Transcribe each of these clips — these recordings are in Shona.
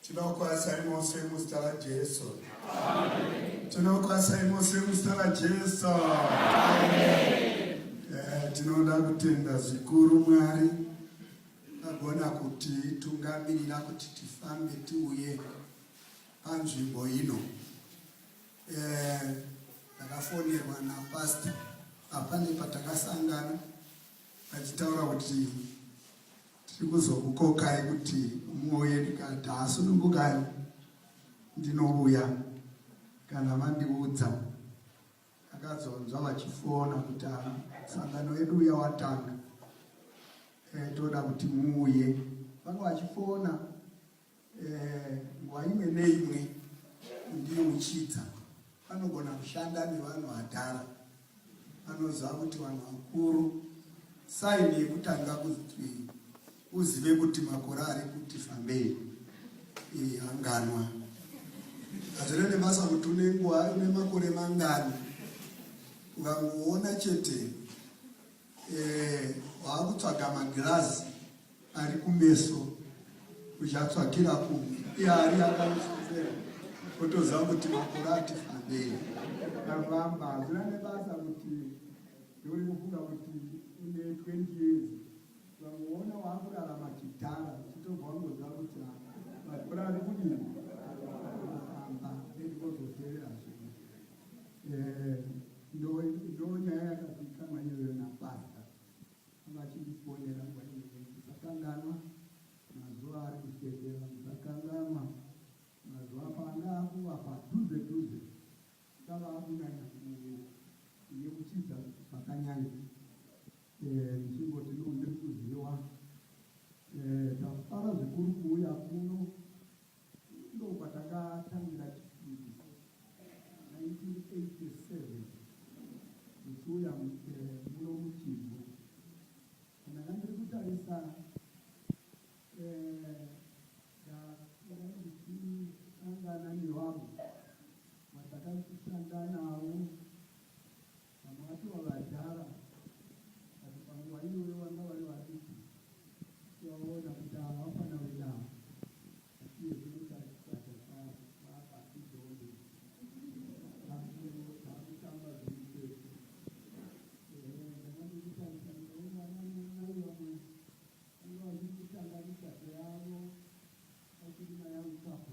Tinokwasai mose muzita raJesu. Tinokwasai mose muzita raJesu. Eh, tinoda kutenda zvikuru Mwari agona kuti tungamirira kuti tifambe tiuye panzvimbo ino. Eh, takafonerwa napastor apane patakasangana vachitaura kuti tiri kuzokukokai kuti muuye ndikati hasunungukai ndinouya kana vandiudza akazonzwa vachifona kuti ah, sangano yedu uya watanga eh, toda kuti muuye vanga vachifona Eh, nguva imwe neimwe ndiyo uchidza anogona kushanda nevanhu vadhara anoziva kuti vanhu vakuru saini yekutanga kuti uzive kuti makore ari kuti fambei anganwa hazvine nebasa kuti une nguva une makore mangani ukangoona chete eh, waakutsvaga magirazi Ari kumeso kuchatsvakira kumwe iye ari akamusopera otoziva kuti makore ati fambei. Kavamba hazvina nebasa kuti ndiuri kufunga kuti une 20 years vangoona waakurarama chidhara uchitobva wangoziva kuti makore ari kudini amba nekukozoteera zvino eh, ndo nyaya yakazikanwa iyoyo napasta Vachindifonera nguva imwe ndisakanganwa mazuva ari kutevera ndisakanganwa mazuva paanga akuva padhuze dhuze ndava akunyanya kuyeuchidza zvakanyanya eh, ndichingoti no ndiri kuziva eh, tafara zvikuru kuuya kuno Ndokwatakatangira chifiki 1987 ndichiuya muno muChivhu. Ndanga ndiri kutarisa ndandisangana nevanhu vatakashanda navo Vamwe vacho vavadhara but panguva iyoyo vanga vari vadiki tivaona kuti ava vafana venavo asiye zvinotarisaja vaabakidombe vakutamba zvirikese ndakandikutarisa ndikaona vananai vamwe vanga vachiri kutanga migato yavo vachirima yangu kapo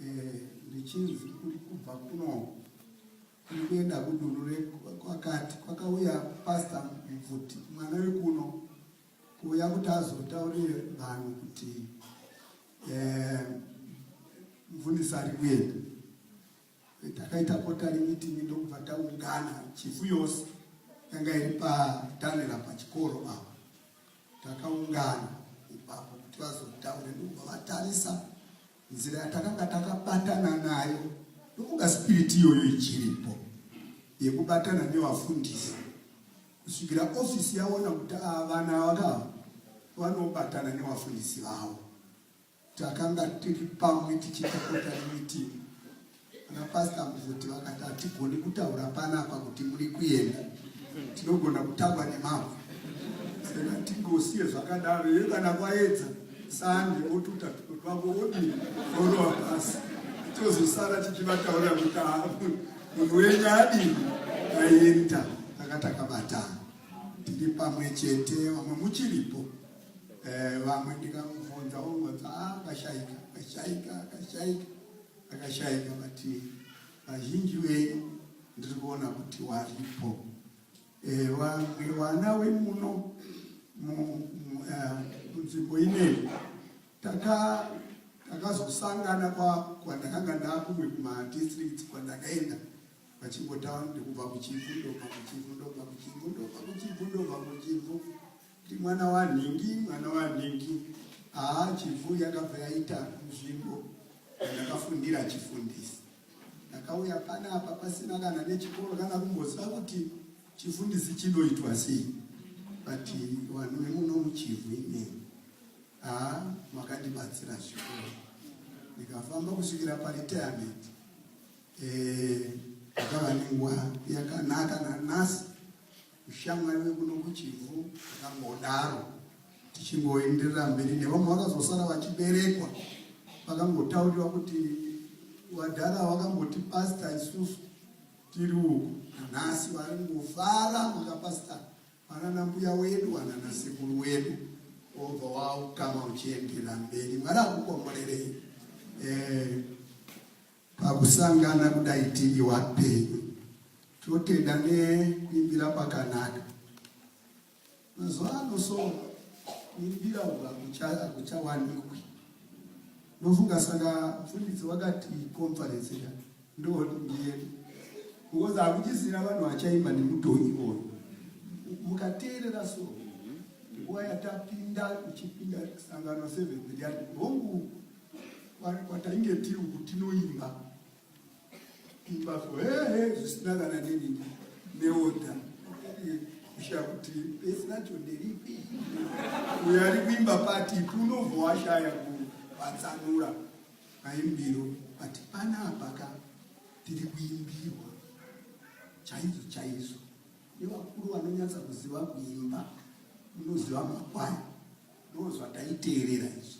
Eh, ndichinzi kuri kubva kuno kuri kuenda kudunhu rekwakati kwakauya pasta mubvuti mwana wekuno kuuya kuti azotaurire vanhu kuti eh, mvundisi ari kuenda eh, takaita kotari mitingi ndokubva taungana chifu yose yanga iri patanera pachikoro pavo takaungana ipapo kuti vazotaure ndokubva vatarisa nzira yatakanga takabatana nayo ndofunga spiriti iyoyo ichiripo yekubatana nevafundisi kusvikira ofisi yaona kuti ah, vana vakava vanobatana nevafundisi vavo takanga tiri pamwe tichitakota nemitimu Ana pastor muzoti vakati hatigoni kutaura panapa kuti muri kuenda tinogona kutaura nemavo saka tingosiye zvakadaro iyo kana kwaedza sande otuta twavo odii orova pasi tozosara tichivataura kuti munhu wenyu adini aenda taka takabatana tiri pamwe chete vamwe muchiripo eh, vamwe ndikamubvunza ongonza ah, akashaika akashaika akashaika Akashaika vati vazhinji venyu ndiri kuona kuti waripo ewa eh, mwana wemuno munzvimbo eh, ineyi takazosangana kwandakanga ndakumwe kumadistricts kwandakaenda vachingotaura ndikubva kuchivhu ndobva kuchivhu ndobva kuchivhu ndobva kuchivhu ndobva kuchivhu Ndi mwana wanhingi mwana wanhingi haa chivhu yakabva yaita nzvimbo ndakafundira chifundisi ndakauya panapa pasina kana nechikoro kana kumboziva kuti chifundisi chinoitwa sei but vanhu vemuno muchivhu imeni haa makandibatsira zvikoro ndikafamba kusvikira paretirement eh, ndakava nenguva yakanaka nanasi Ushamwari wekuno kuChivhu akangodaro tichingoenderera mberi nevamwe vakazosara vachiberekwa vakangotauriwa kuti vadhara vakamboti pasta isusu tiri uku nanhasi varingofara maka pasta vanana mbuya wedu vanana sekuru wedu obva wautama uchienderera mberi mwari akukomborerei eh, Pakusangana kudai tiri wapenyu totenda nekuimbira kwakanaka. Mazuva ano so kuimbira uku hakuchawanikwi. Ndofunga saka mfundisi wakati conference ya ndo ndiye because hakuchisina vanhu vachaimba nemudhonyi iwoyo. Mukateerera so nguva yatapinda uchipinda sangano seventh yati hongu kwatainge tiri uku tinoimba imba so hehe zvisina kana nini neoda kusha kuti besi racho nderipi uyo ari kuimba pati punobva washaya kuvatsanura maimbiro but pana apaka tiri kuimbirwa chaizo chaizo nevakuru vanonyatsa kuziva kuimba unoziva makwaya ndozvataiteerera izvi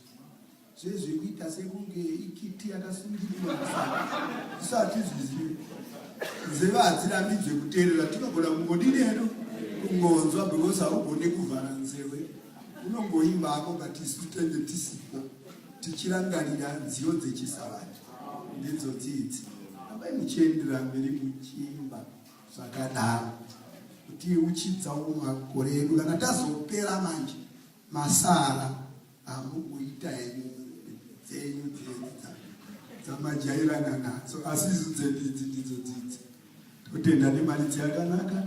zvezvekuita sekunge ikiti yakasungirirwa isati zvizive nzeve hadzirambidzwe kuteerera tinogona kungodini hedu kungonzwa because haugone kuvhara nzeve unongoimba ako but isu tenge tisipo tichirangarira nziyo dzechisavati ndidzo dzidzi amai muchiendera mberi muchiimba zvakadaro kuti uchidza makore edu kana tazopera manje masara amukuita henyu dzenyu dzedza dzamajairana nadzo asi isu dzedidzi ndidzo dzidzi totenda nemari dzakanaka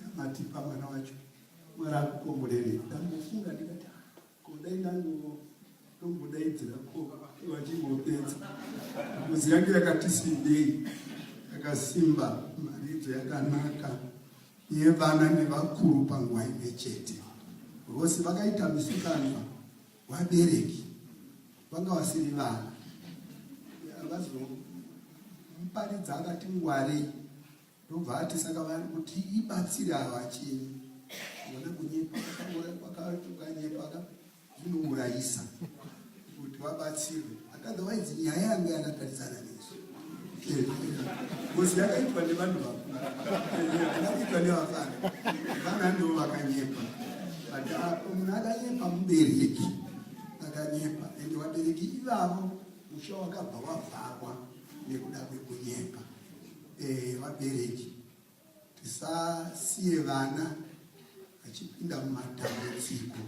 yamatipa mwana wacho mwari akukomborerei ndamufunga ndikati Ko dai ndango tombodaidzira ko vachingopedza muzi yange yakati sindei yakasimba maridzo yakanaka yevana nevakuru panguva imwe chete vose vakaita misikanwa vabereki vanga vasiri vana vazomuparidza akati ngwarei Ndobva ati saka vari kuti ibatsire ava chii vana kunyepa kwakatukanyepaka zvinourayisa kuti vabatsirwe otherwise nyaya yange yakatarisana nezvo ngozi yakaitwa nevanhu vakuru akaitwa nevafana vana ndo vakanyepa but apo munhu akanyepa mubereki akanyepa and vabereki ivavo musha wakabva wavharwa nekuda kwekunyepa Eh, vabereki tisasiye vana vachipinda mumatambudziko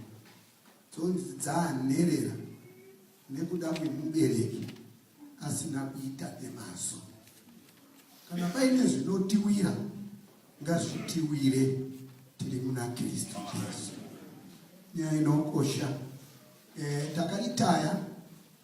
dzonzi dzanherera nekuda kwemubereki asina kuita nemaso kana paine zvinotiwira ngazvitiwire tiri muna kristu jesu nyaya inokosha e, takaritaya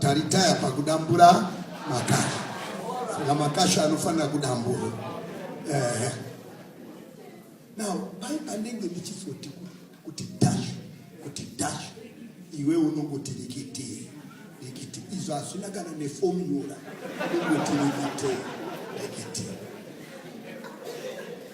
Taritaya pakudambura makasha saka makasha anofanira kudambura eh. Now pai panenge ndichizoti kuti dash kuti dash iwe unongoti rikiti rikiti izvo hazvina kana nefomula unongoti rikiti rikiti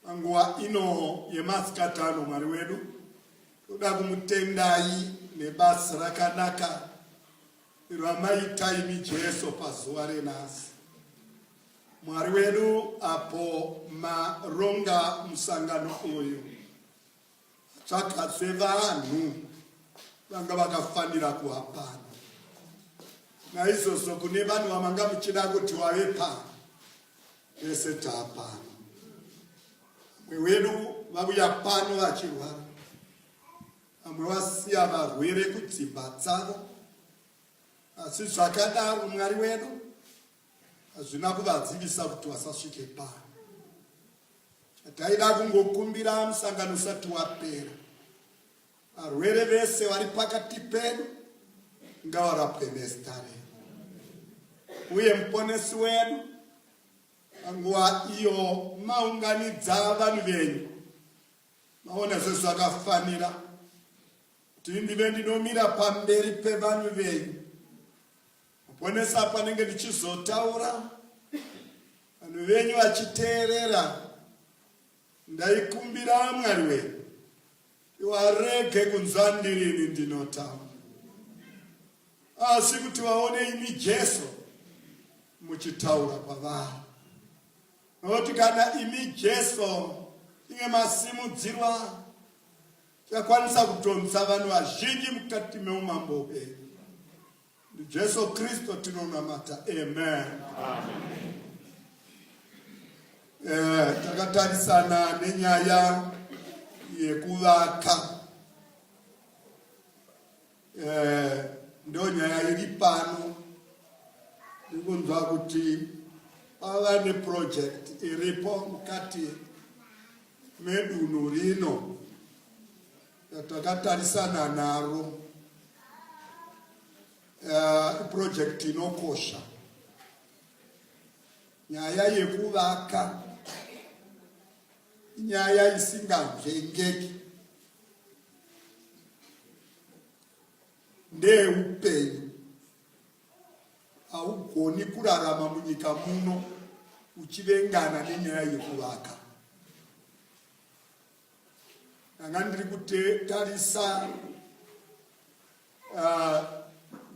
Panguva ino yemasikati ano, Mwari wedu, toda kumutendai nebasa rakanaka ramaita imi Jesu pazuva renhasi. Mwari wedu, apo maronga musangano uyu Saka sevanhu vanga vakafanira kuva pano, naizvozvo kune vanhu vamanga muchida kuti wave pano, vese taa pano. Vamwe wedu vauya pano vachirwara, vamwe vasiya varwere kudzimba dzavo, asi zvakadaro Mwari wedu Hazvina kuvadzivisa kuti vasasvike pano. Chataida kungokumbira musangano usati wapera, varwere vese vari pakati pedu ngavarapwe nezita renyu, uye muponesi wedu panguva iyo maunganidza vanhu venyu maona sezvakafanira kuti ndive ndinomira pamberi pevanhu venyu Muponesa panenge ndichizotaura vanhu venyu vachiteerera ndaikumbira mwari wenyu iwarege kunzwa ndirini ndinotaura asi kuti vaone imi jesu muchitaura kwavari nokuti kana imi jesu inge masimudzirwa chakwanisa kutonisa vanhu vazhinji mukati meumambo hwenyu NdiJesu Kristu tinonamata. Amen. Amen. Eh, takatarisana nenyaya yekuvaka eh, ndo nyaya iri pano ndikunzwa kuti pava neproject iripo mukati medunhu rino Takatarisana naro uh, iprojekti uh, inokosha nyaya yekuvaka nyaya isingavhengeki ndeupenyu haugoni kurarama munyika muno uchivengana nenyaya yekuvaka ndanga ndiri kutarisa ah,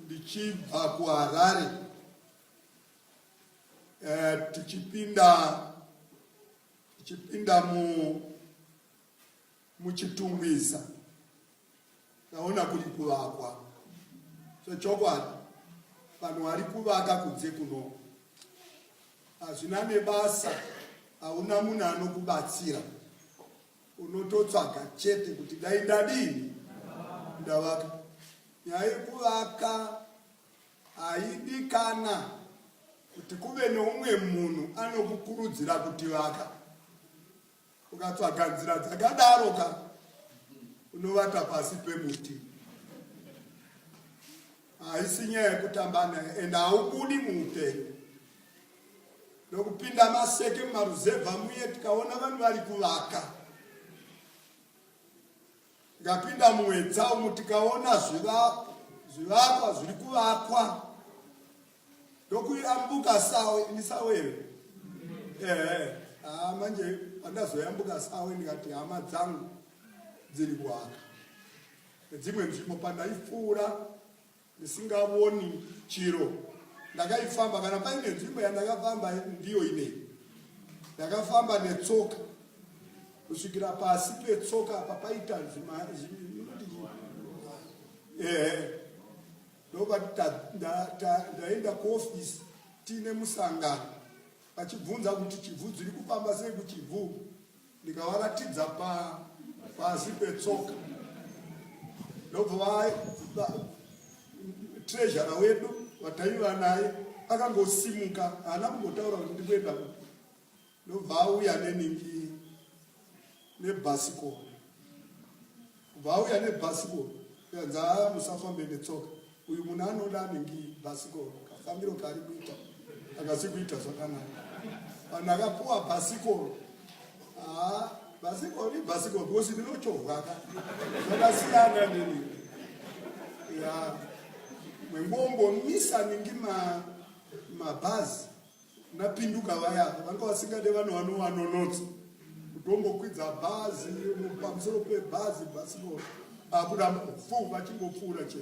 ndichibva kuharare eh, tichipinda tichipinda mu muchitungwiza naona kuri kuvakwa zvechokwadi vanhu vari kuvaka kunze kuno hazvina nebasa hauna munhu anokubatsira unototsvaga chete kuti dai ndadini ndavaka nyaya yekuvaka haidikana kuti kuve neumwe munhu anokukurudzira kuti vaka ukatsvaga nzira dzakadaro ka unovata pasi pemuti haisi nyaya yekutamba naye and haubudi muupenyu nokupinda maseke mumaruzevha muye tikaona vanhu vari kuvaka Ndapinda muedza umu tikaona zvivakwa zviri kuvakwa ndokuyambuka sawe ini sawe here ehe haa manje pandazoyambuka sawe ndikati hama dzangu dziri kuaka nedzimwe nzvimbo pandaipfuura ndisingavoni chiro ndakaifamba kana paine nzvimbo yandakafamba ndiyo ine ndakafamba netsoka kusvikira pasi petsoka apa paita ehe ndobati ndaenda kuofisi tiine musangano vachibvunza kuti chibvu dziri kufamba sei kuchibvu ndikavaratidza pa pasi petsoka ndobva treasure wedu vataiva naye akangosimuka haana kumbotaura kuti ndikuenda kupi ndobva auya neningi nebhasikoro kubva auya nebhasikoro kanzi haa musafambe netsoka uyu munhu anoda anenge bhasikoro kafambiro kaari kuita akasi kuita zvakanaka vanhu akapuwa bhasikoro haa bhasikoro ibhasikoro because ndinochovhaka zvakasiyana nini ya mwengombo misa ningi mabhazi ma napinduka vaya vanga vasingade vanhu vanovanonotsa kutongokwidza bhazi pamusoro pebhazi bhasino akuda fu vachingopfuura che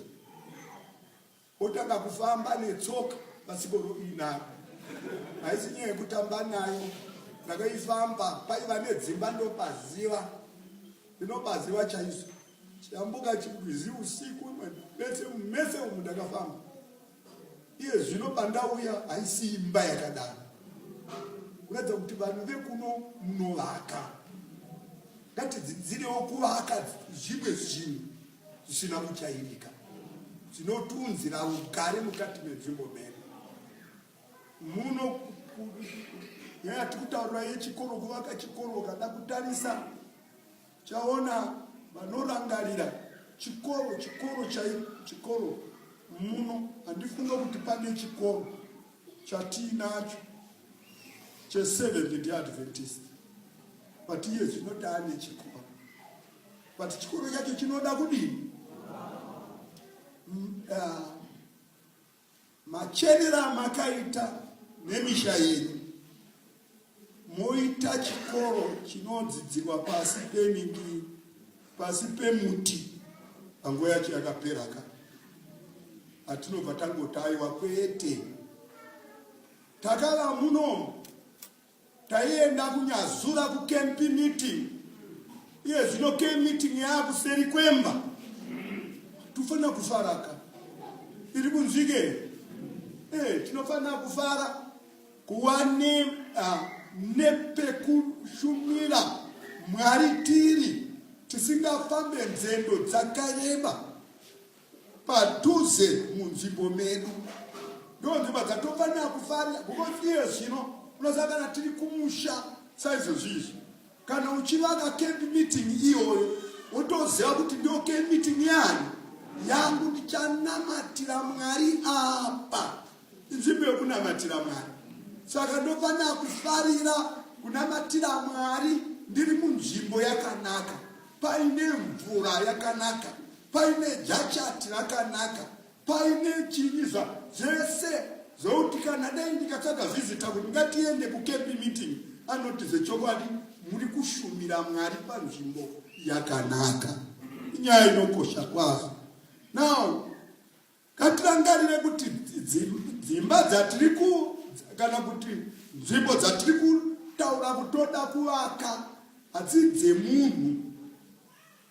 otanga kufamba netsoka pasikoro inaro haisi nyaya yekutamba nayo ndakaifamba paiva nedzimba ndopaziva ndinopaziva chaiso chiyambuka chigwizi usiku mese mese umu ndakafamba Iye zvino pandauya haisi imba yakadaro kuratidza kuti vanhu vekuno munovaka ngatidzidzirewo kuvaka zvimwe zvinhu zvisina kuchairika zvinotiunzira ugare mukati menzvimbo medu muno nyaya tikutaurira yechikoro kuvaka chikoro ukada kutarisa Chaona vanorangarira chikoro chikoro chai chikoro muno handifunga kuti pane chikoro chatiinacho cheseventh day adventist but iye zvinoda ane chikoro but chikoro chacho chinoda kudini mm, ah, Machenera amakaita nemisha yenyu moita chikoro chinodzidzirwa pasi pemingi pasi pemuti panguva yacho yakapera ka atinobva tangotaiwa kwete takava muno Taienda kunyazura kucamp meeting, iye zvino camp meeting yaakuseri kwemba. Tofanira kufaraka, iri kunzwike eh, tinofanira kufara kuva ne uh, nepekushumira Mwari tiri tisingafambe nzendo dzakareba. padhuze munzvimbo medu ndo nzvimbo dzatofanira kufarira because iye zvino unoziva kana tiri kumusha saizvozvi izvi kana uchivaka camp meeting iyoyo wotoziva kuti ndo camp meeting yani yangu ndichanamatira mwari apa inzvimbo yokunamatira mwari saka ndofanira kufarira kunamatira mwari ndiri munzvimbo yakanaka paine mvura yakanaka paine jachati rakanaka paine chinyiza zvese zvokuti kana dai ndikatsvaga zvizita kuti ngatiende kucampi meeting anoti zvechokwadi muri kushumira mwari panzvimbo yakanaka inyaya inokosha kwazvo now Ngatirangarire kuti dzimba dzatiri ku kana kuti nzvimbo dzatiri kutaura kutoda kuvaka hadzi dzemunhu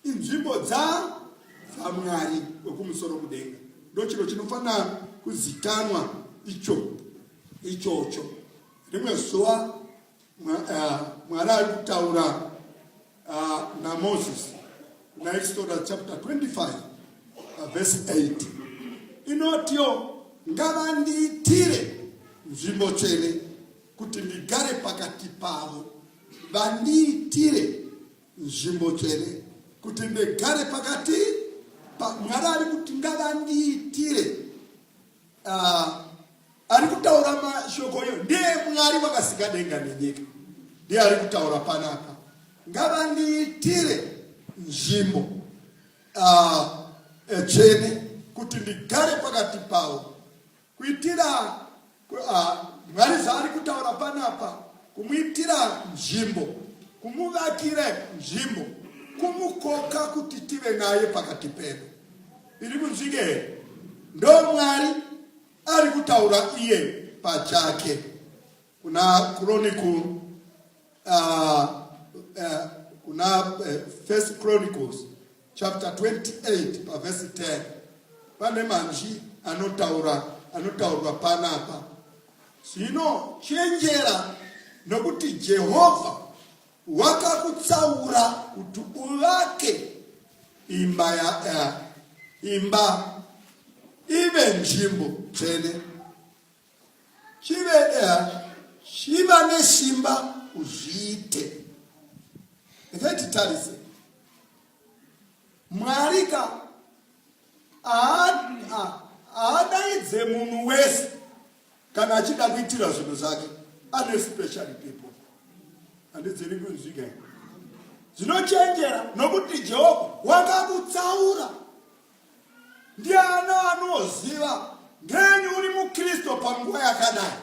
inzvimbo dza dzamwari wekumusoro kudenga ndochiro chinofanira kuzitanwa icho ichocho rimwe zuva Eh, mwari ari kutaura eh, namozisi kuna exoda chapter 25 eh, vhesi 8 inotiyo ngavandiitire nzvimbo tsvene kuti ndigare pakati pavo vandiitire nzvimbo tsvene kuti ndigare pakati mwari ari kuti ngavandiitire Uh, ari kutaura mashoko iyo ndeemwari vakasika denga nenyika ndiye ari kutaura panapa ngavandiitire nzvimbo uh, tsvene kuti ndigare pakati pavo kuitira uh, mwari zvaari kutaura panapa kumuitira nzvimbo kumuvakira nzvimbo kumukoka kuti tive naye pakati pedu iri kunzwike ndo mwari ari kutaura iye pachake kuna chronicle uh, uh, kuna uh, first chronicles chapter 28 pavhesi 10 pane manzwi anotaura anotaurwa panapa zvino chenjera nokuti jehovha Wakakutsaura kuti uvake imba ya uh, imba ive nzvimbo tsvene chive uh, chiva nesimba uzviite ngatitarise mwari ka aadaidze munhu wese kana achida kuitira zvinhu zvake ane special people handidziri kunzwika zvinochenjera nokuti jehovha wakakutsaura ndiana anoziva ngenyi uri mukristu panguva yakadai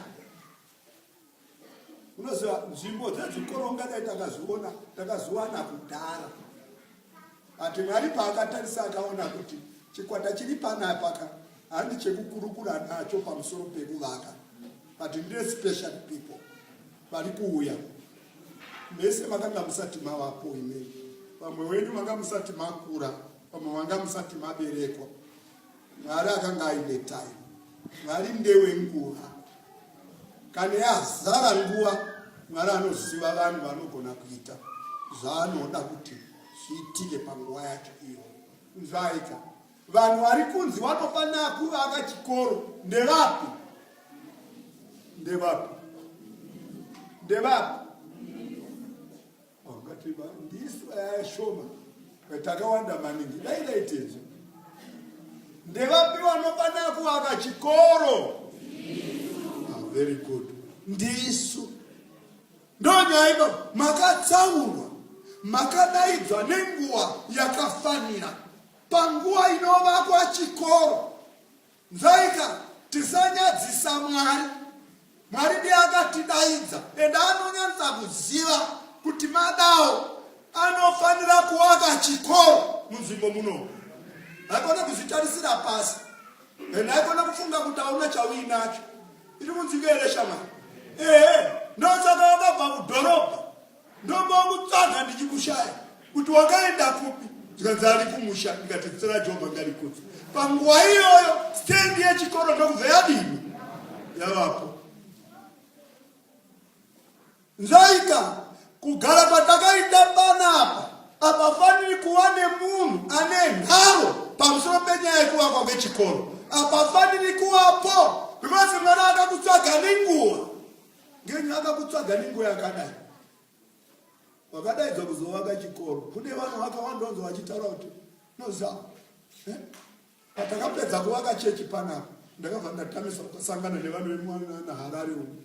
unoziva nzvimbo dzezvikoro ungadai takazviona takazviwana kudhara ati mwari paakatarisa akaona kuti chikwata chiri panapaka handi chekukurukura nacho pamusoro pekuvaka but ndine special people vari kuuya mese makanga musati mavapo imei vamwe wenyu manga musati makura vamwe vanga musati maberekwa Mwari akanga aine time. Mwari ndewe nguva. Kana yazara nguva, Mwari anoziva vanhu vanogona kuita zvaanoda kuti zviitike panguva yacho iyo. Zvaita. Vanhu vari kunzi vanofanira kuvaka chikoro ndevapi? Ndevapi? Ndevapi? Makatema ndisu aya shoma takawanda maningi dai daitezo ndevapi vanofanira kuvaka chikoro ah, very good ndisu ndonyaiba makatsaurwa makadaidzwa nenguva yakafanira panguva inovakwa chikoro Nzaika tisanyadzisa Mwari. Mwari ndiye akatidaidza ende anonyatsa kuziva kuti madawo anofanira kuwaka chikoro munzvimbo muno. Haikona kuzvitarisira pasi and haikona kufunga kuti hauna chauinacho. Iri munzvimbo here shamwari? Ehe, ndosaka wakabva kudhorobha ndombokutsvaga ndichikushaya kuti wakaenda kupi zvikanzi ari kumusha ndikati zita rajehovha ndarikudza panguva iyoyo stendi yechikoro ndokubva yadini yavapo nzaita kugara patakaita panapa apafaniri kuva nemunhu ane nharo pamusoro penyaya yekuvakwa kwechikoro apafaniri kuvapo because mwana akakutsvaga nenguva Ngenyi akakutsvaga nenguva yakadai? Wakadaidzwa kuzovaka chikoro. Kune vanhu vakawanda vanzi vachitaura kuti nozama. Eh? Patakapedza kuvaka chechi panapa, ndakabva ndatamiswa kusangana nevanhu vemwana Harare umu.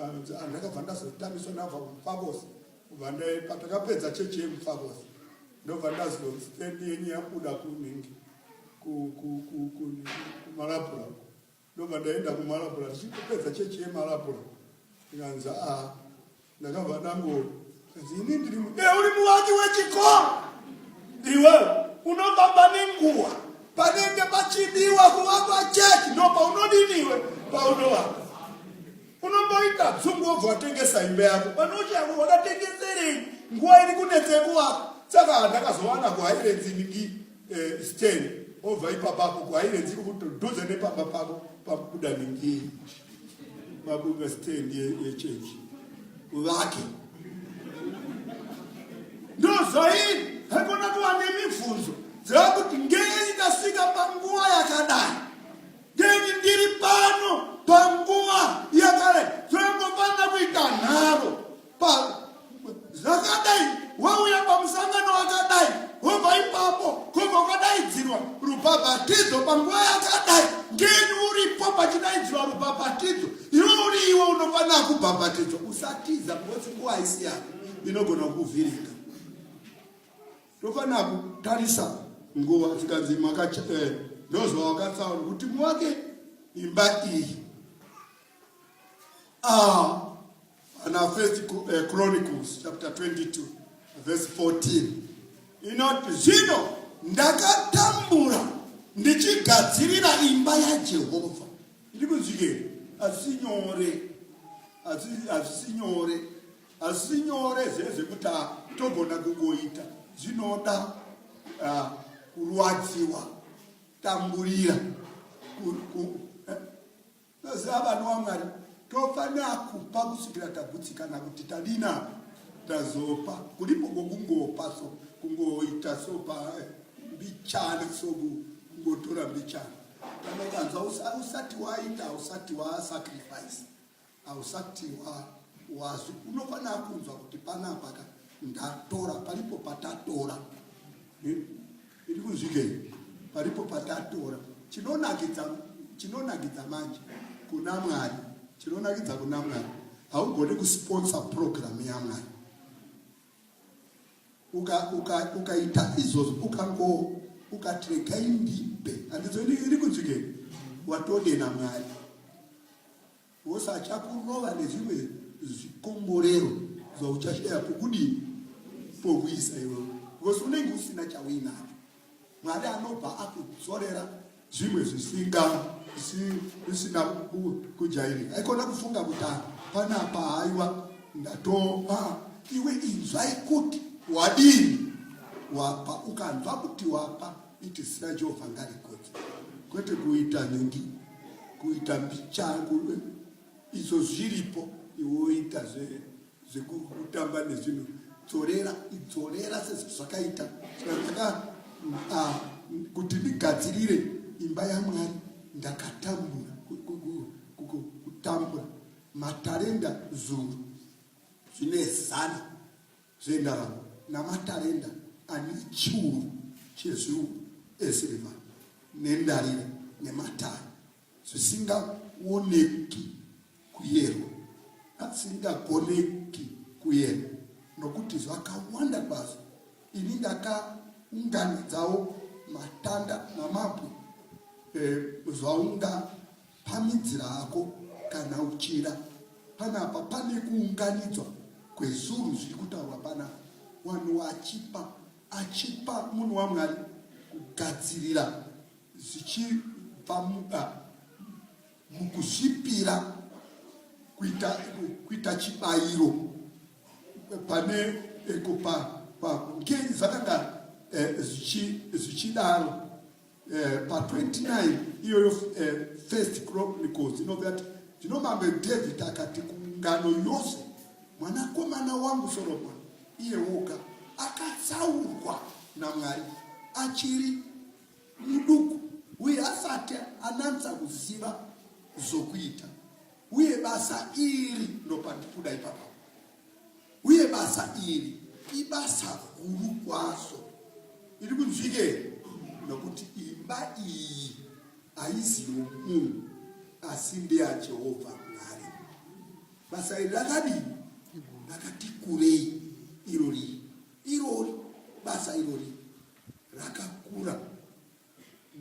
Ah, ndakabva ndazotamiswa nabva kumufavosi. Patakapedza chechi yemufavosi, ndobva ndazonzi tendi yenyu yabuda kunhingi kumalabhura uko. Ndobva ndaenda kumalapula tichipedza chechi yemalapula ikanzi a ndakabva ndangoo kanzi ini ndiri mu e uri muwaki wechikoro iwe unofamba nenguwa panenge pachidiwa kuvakwa chechi ndo paunodiniwe paunovaka unomboita dzungu wobva watengesa imba yako panochako wakatengeserei nguva iri kunetsekuwaka saka handakazowana kuhairedzi ningii eh, stand obva ipapapo kwaive dziri kutodhudza nepamba pavo pakubuda ningei mabuka stand yechechi vake ndozvaii haikona kuva nemibvunzo dzava kuti ngei ndasvika panguva yakadai ngei ndiri pano panguva yakadai zvoingofanira kuita nharo zvakadai wauya pamusangano wakadai wobva ipapo kobva ukadaidzirwa rubhabhatidzo panguva yakadai ndini uripo pachidaidzirwa rubhabhatidzo iwe uri iwe unofanira kubhabhatidzwa usatiza ngosi nguva haisi yako inogona kukuvhiringa tofanira kutarisa nguva tikanzi makacha eh, ndozva wakatsaura kuti muwake imba iyi Ah, and our first eh, Chronicles chapter 22 verse 14 inoti zvino ndakatambura ndichigadzirira imba yajehovha iri kunzwikei asi nyore asi nyore asi nyore zvezvekuti ah, togona kungoita zvinoda ah, kurwadziwa tamburira eh, Toziva vanhu waMwari tofanira kupa kusvikira tagutsikana kuti tadina tazopa kulipo kokungopa so kungoita so pambichana so kungotora mbichana tanokanzwa usati waita usati wasacrifice ausati wazi unofanira kunzwa kuti panapaka ndatora palipo patatora hmm? Iri kunzwikei? Paripo patatora chinonakidza chinonakidza manje kuna Mwari, chinonakidza kuna Mwari. Haugoni kusponsor program yaMwari ukaita uka, uka izvozvo ukango ukatrega indipe handizo iri kunzwikei watode naMwari Boss achakurova nezvimwe zvikomborero zvauchashaya pokudii pokuisa iwewe because unenge usina chauinacho mwari anobva akudzorera zvimwe zvisinga zvisina kujairika aikona kufunga kuti ah, panapa haiwa ndatova ah, iwe inzwai kuti wadini wapa ukanzwa kuti wapa Iti zina Jehovha ngarikodzwe, kwete kuita nhingi, kuita mbichangu eh, izvo zviripo iwoita zvekutamba zve nezvinhu dzorera idzorera sezvakaita saka ah, kuti ndigadzirire imba yamwari ndakatambura kutambura matarenda zuru zvine zana zvendarama namatarenda ane chiuru chezviuru esirivha nendarira nematare zvisingaoneki kuyerwa asingagoneki kuyerwa nokuti zvakawanda kwazvo ini ndakaunganidzawo matanda namabwe e, zvaunga Pamidzira hako kana uchida. Panapa pane kuunganidzwa kwezuru zviri kutaurwa pana wanhu achipa achipa munhu wamwari kugadzirira zvichibva muda mukuzvipira kuita, kuita chibayiro pane eko eh, pa, pa, ngei zvakanga eh, zvichidaro Eh, pa 29 iyoyo eh, first chronicles inoti ati zvino mambe david akati kungano yose mwanakomana wangu soromoni iye woga akatsaurwa namwari achiri muduku uye asati ananisa kuziva zvokuita uye basa iri ndopandikuda ipapa Uye basa iri ibasa guru kwaso iri kunzwike nokuti imba iyi haizi yomunhu asi ndeyajehovha mwari basa iri rakadii rakati kurei irori irori basa irori rakakura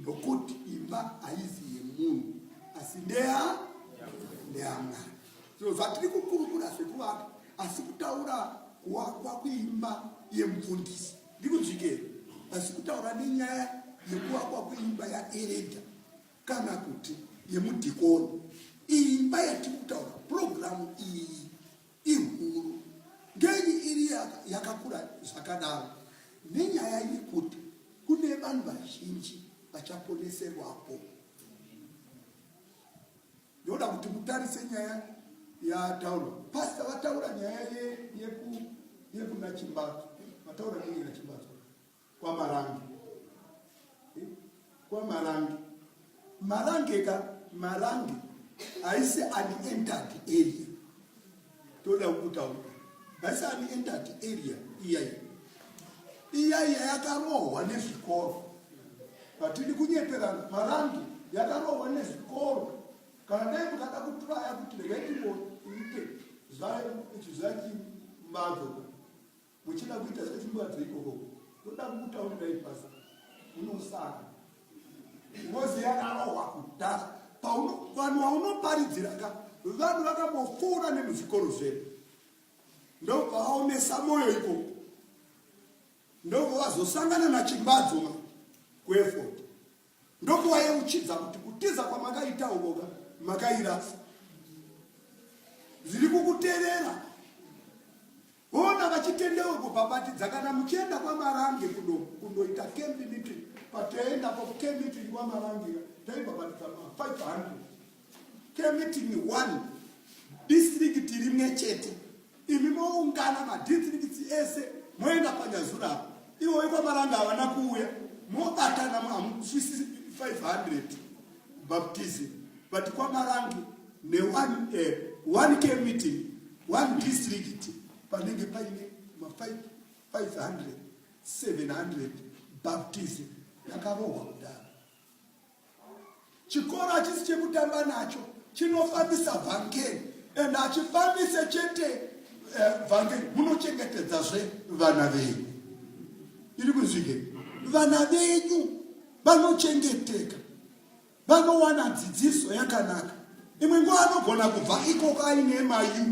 Nokuti imba haizi yemunhu asi ndeya ndeyaMwari. So zvatiri kukurukura zvekuvaka asi kutaura kuwakwa kuimba yemufundisi ndikuzvikera asi kutaura nenyaya yekuvakwa kuimba yaereda kana kuti yemudhikoni imba yatiri kutaura purogiramu iyi Ihuru ngenyi iri yakakura zvakadaro nenyaya yekuti kune vanhu vazhinji vachaponeserwapo. Ndoda kuti mutarise nyaya yataura pasta vataura nyaya yekuna Chimbadzo vataura nyaya yekuna Chimbadzo kwamarange eh? kwamarange marange ka marange haisi unentered area toda kutaura haisi unentered area iyayi iyayi yakarohwa nezvikoro hatidi kunyeperana marange yakarohwa nezvikoro kana dai mukada kutraya kuti regai timboite zvachimazo Muchida kuita zvechimbadzo ikoko ndoda kukutaurira ibhazi unosaka ngozi yakarohwa kudhara vanhu vaunoparidzira ka vanhu vakambofura nemuzvikoro zvedu ndobva vaomesa mwoyo ikoko ndobva vazosangana nachimbadzo ma kuefot ndobva vayeuchidza kuti kutiza kwamakaita ukoka makairasa zviri kukuterera Ona vachitendeuko pabatidza kana muchienda kwamarange kuno kunoita camp meeting patoenda ko camp meeting kwamarange taibabatidza ma 500 camp meeting one district rimwe chete imi moungana madistricts ese moenda panyazura apo ivo vekwamaranga havana kuuya mobatana mahamusvisi 500 baptism but kwamarange ne one, uh, one k meeting one district panenge paine ma 500 700 baptism yakarohwa kudaro chikoro hachisi chekutamba nacho chinofambisa vhangeri and hachifambise chete eh, vhangeri uh, munochengetedzazve vana venyu iri kunzwike vana venyu vanochengeteka, vanowana dzidziso yakanaka. Imwe nguva anogona kubva ikoko aine mayu,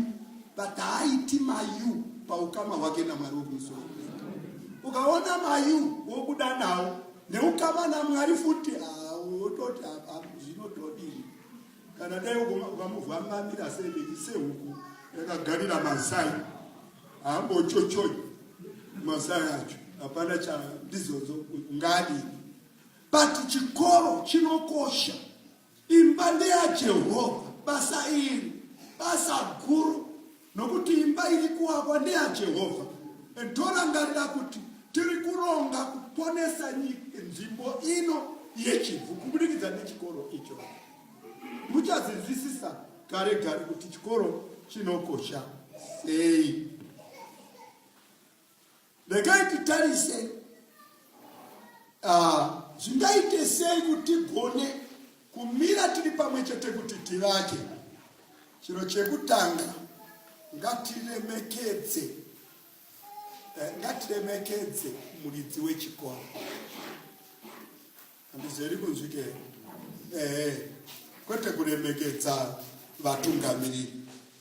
but haaiti mayu paukama hwake naMwari wekumusoro. Ukaona mayu wobuda nawo neukama naMwari futi, wototi zvinotodii kana dai ukamuvamamira sei sehuku yakagarira mazai haambochochoi mazai acho hapana cha ndizodzo ngadini but chikoro chinokosha imba ndeyajehovha basa iri basa guru nokuti imba iri kuwakwa ndeyajehovha and torangarira kuti tiri kuronga kuponesa nzvimbo ino yechivhu kuburikidza nechikoro icho Muchazvinzwisisa gare gare kuti chikoro chinokosha sei. Regai titarise ah, zvingaite sei kuti gone kumira tiri pamwe chete kuti tivake. Chiro chekutanga ngatiremekedze eh, ngatiremekedze muridzi wechikoro. handizeri kunzwike ehe kwete kuremekedza vatungamiriri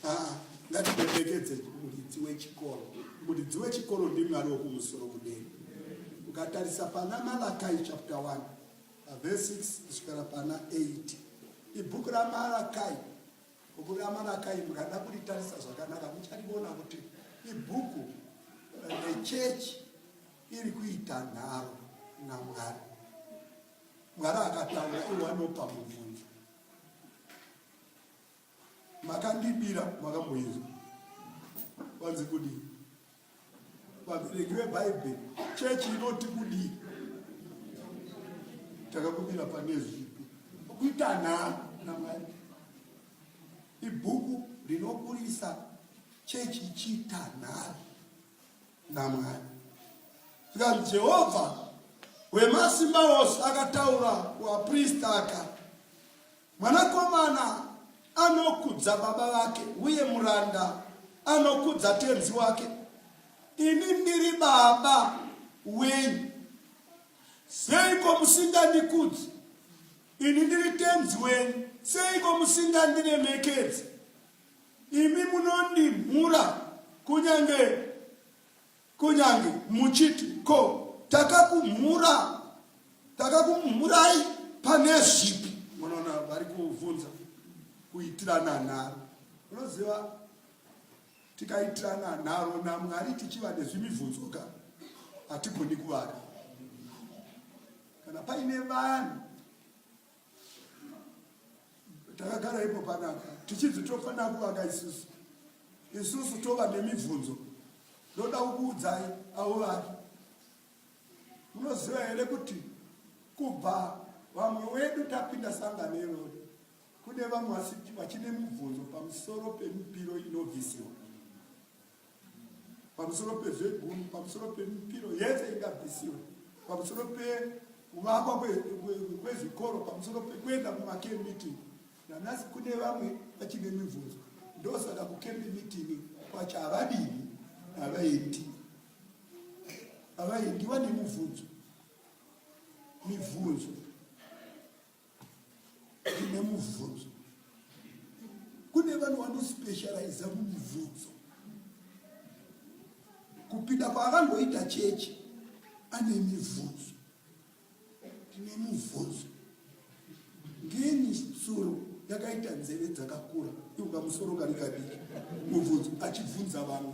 aa ngatiremekedze muridzi wechikoro muridzi wechikoro ndimwari wokumusoro kudeni ukatarisa pana malakai chapter 1 verse 6 kusvikira pana 8 ibhuku ramalakai bhuku ramalakai mukada kuritarisa zvakanaka mucharivona kuti ibhuku rechechi eh, iri kuita nharo naMwari. Mwari akataura iwo anopa mubvunzo. Makandibira makamboizwa vanzi kudii? Vabereki veBhaibheri chechi inoti kudii? Takakumira pane zvipi? Kuita nharo naMwari ibhuku rinokurisa chechi ichiita nharo naMwari. Zvikanzi Jehovha wemasimba ose akataura kuaprista aka, mwanakomana anokudza baba vake, uye muranda anokudza tenzi wake. Ini ndiri baba wenyu, seiko musingandikudzi? Ini ndiri tenzi wenyu, seiko musingandiremekedzi? Imi munondimhura kunyange kunyange muchiti ko takakumhura takakumhurai pane zvipi? Munoona vari kuvhunza kuitirana nharo. Unoziva tikaitirana nharo naMwari tichiva nezvimibvunzo ka hatigoni kuvaka kana paine vanhu takagara ipo panapa tichibvi tofanira kuvaka isusu isusu tova nemibvunzo ndoda kukuudzai avo vari munoziva here kuti kubva vamwe wedu tapinda sangano irori kune vamwe vachine mubvunzo pamusoro pemipiro inobvisiwa pamusoro pezvegunhu pamusoro pemipiro yese ingabvisiwe pamusoro pekuvakwa kwezvikoro pamusoro pekuenda kumacamp meeting nanasi kune vamwe vachine mibvunzo ndosaka kucamp meeting kwacho havadini havaiti havaindiwa nemubvunzo mibvunzo Tine mubvunzo. Kune vanhu vanospecializa mumubvunzo. Kupinda kwaakangoita chechi ane mibvunzo. Tine mubvunzo. Ngeni tsuro yakaita nzeve dzakakura iuka musoro kari kadiki mubvunzo achibvunza vamwe.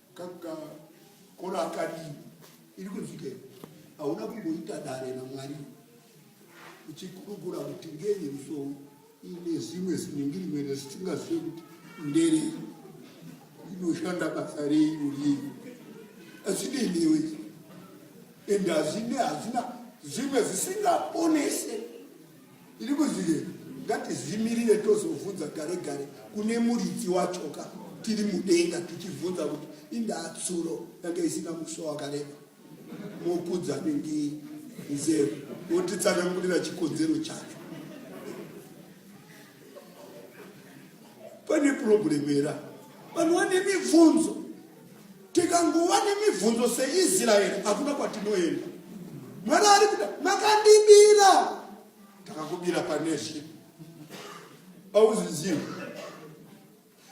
Kaka kora akadii iri kunzwikei? Hauna kumboita dare naMwari uchikurukura kuti ngenyi musoro ine zimwe zinengirimene zisingazive kuti ndere inoshanda basa rei uriei azinei newe ende hazine hazina zimwe zisingaponese Tiri kuzvirepi? Ngatizvimirire tozovhunza gare gare kune muridzi wachoka tiri mudenga tichivhunza kuti indaa tsuro yanga isina muswa wakareba mokudza ningii nzero wotitsanangurira chikonzero chacho. Pane purobhuremu era vanhu vane mibvunzo tikangova nemibvunzo seisraeri hakuna kwatinoenda mwari ari kuda makandibira takakubira paneshe auzvizivi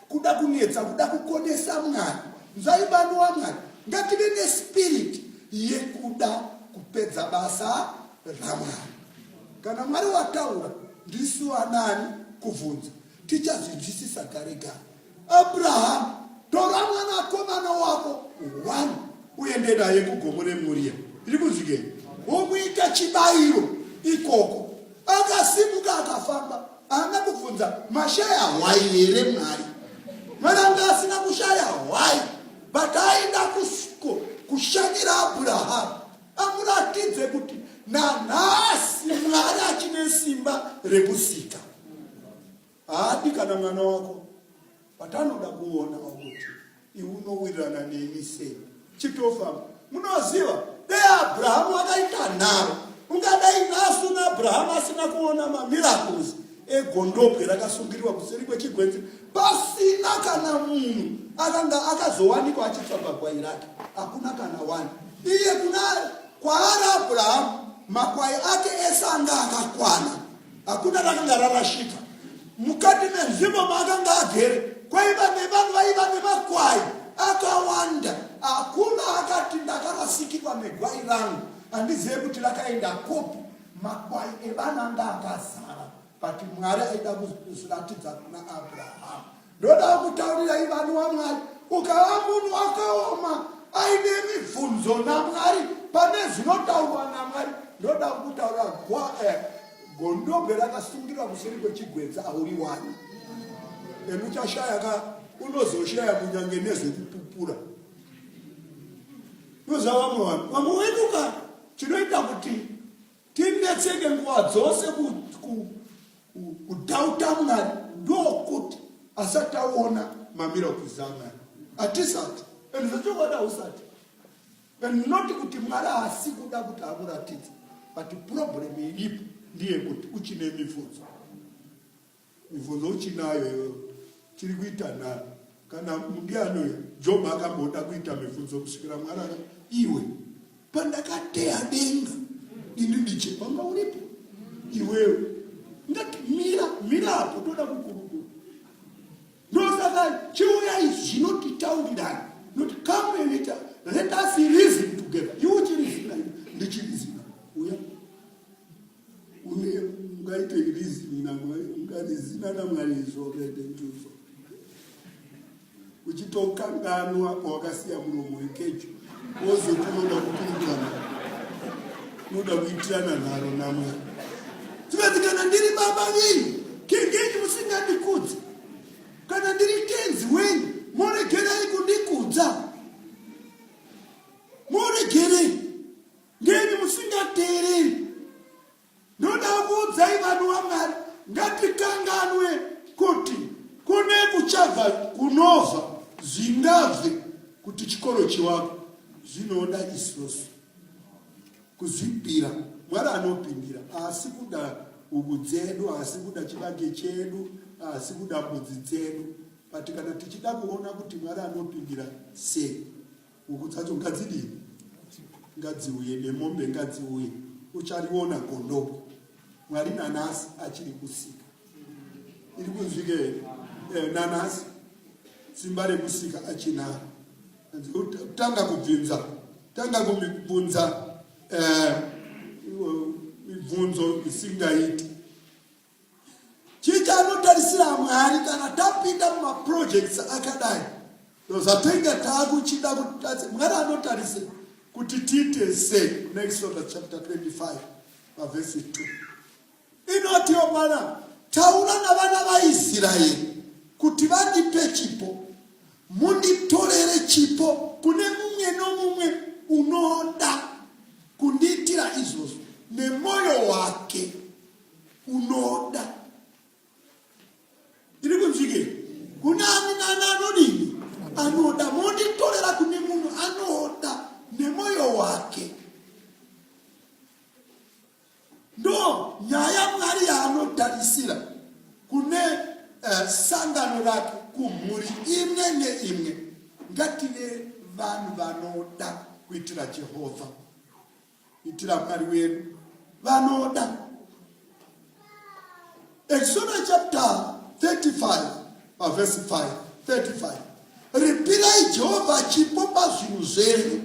kuda kunetsa kuda kukonesa mwari nzvaibani wamwari ngative nespiriti yekuda kupedza basa ramwari kana mwari wataura ndisu anani kubvunza Tichazvinzwisisa kare kare. Abraham, tora mwana akomana wako one uende naye kugomo reMoria. Ndiri kunzwikei? Womuita chibayiro ikoko. Akasimuka akafamba. Haana kubvunza mashaya hwai here Mwari. Mwana anga asina kushaya hwai. But aenda kusko kushanyira Abraham. amuratidze kuti nanhasi mwari achine simba rekusika haadi kana mwana wako but anoda kuona kuti iunowirirana neni sei chitofamba munoziva dei abrahamu akaita nharo ungadai nasu naabrahamu asina kuona mamiracles egondobwe rakasungiriwa kuseri kwechigwenzi Pasina kana munhu akanga akazowanikwa achitsva pagwai rake, hakuna kana wani. Iye kuna kwaari Abrahamu, makwai ake ese anga akakwana, hakuna rakanga rarashika. Mukati menzvimbo maakanga agere kwaiva nevanhu vaiva nemakwai akawanda, hakuna akati ndakarasikirwa negwai rangu, handizive kuti rakaenda kupi. Makwai evana anga akazara. but mwari aida kuzviratidza kuna abrahamu ndoda kutaurirai vanhu wamwari ukava munhu wakaoma aine mibvunzo namwari pane zvinotaurwa namwari ndoda kutaura eh, gondobwe rakasungirwa kuseri kwechigwenza auri wani and uchashaya ka unozoshaya kunyange nezvekupupura nozavamwe vanhu vamwe weduka chinoita kuti tinetseke nguva dzose kudhauta mwari ndokuti asati aona mamira okwiza mwari hatisati and zvechokwadi hausati and not kuti mwari haasi kuda kuti akuratidza but problem iripo ndiye kuti uchine mibvunzo Mibvunzo uchinayo iyoyo tiri kuita nharo kana ndiani job akamboda kuita mibvunzo kusvikira mwarara iwe pandakateya denga ini ndiche panga uripo iwewe ngati mira mira apo toda kukurukura ndosaka chiuyai zvinotitaurirani noti come and let, let us reason together iwe uchirizina ndichirizina uya Uye ungaite reasoning naMwari, ungarizina naMwari izvo rede njuzo. Uchitokanganwa kwawakasiya muromo wekecho, wozoti unoda kukurukana, unoda kuitirana nharo naMwari. Tikati kana ndiri baba venyu, kengenyi musingandikudzi? Kana ndiri tenzi wenyu, moregerai kundikudza. Ndini musingateereri. Ndoda kuudzai vanhu vaMwari ngatikanganwe kuti kune kuchabva kunova zvingabve kuti chikoro chiwako zvinoda isusu kuzvipira mwari anopindira asi kuda uku dzedu asi kuda chibage chedu asi kuda mbudzi dzedu but kana tichida kuona kuti mwari anopindira sei Huku dzacho ngadzidii? Ngadziuye nemombe ngadziuye, uchariona gondopo. Mwari nanhasi achiri kusika, iri kunzwike eh, nanhasi simba rekusika achinaro. Tanga kubvinza, tanga kubvunza eh, mibvunzo isingaiti chii chaanotarisira mwari kana tapinda mumaprojects akadai zvatenga taakuchida kutadze mwari anotarisira kuti tiite sei kuna exodus chapter 25 pavhesi 2 inotiwo mwana taura navana vaisraeri kuti vandipe chipo munditorere chipo kune mumwe nomumwe unoda kundiitira izvozvo nemwoyo wake unoda iri kunzwike kuna ani nani anodini anoda monditorera kune munhu anoda nemoyo wake ndo nyaya mwari yaanotarisira kune uh, sangano rake kumhuri imwe neimwe ngative vanhu vanoda kuitira jehovha Itira Mwari wedu vanoda. Exodus chapter 35 pavhesi 5 35 ripirai jehovha chipo pazvinhu zvenyu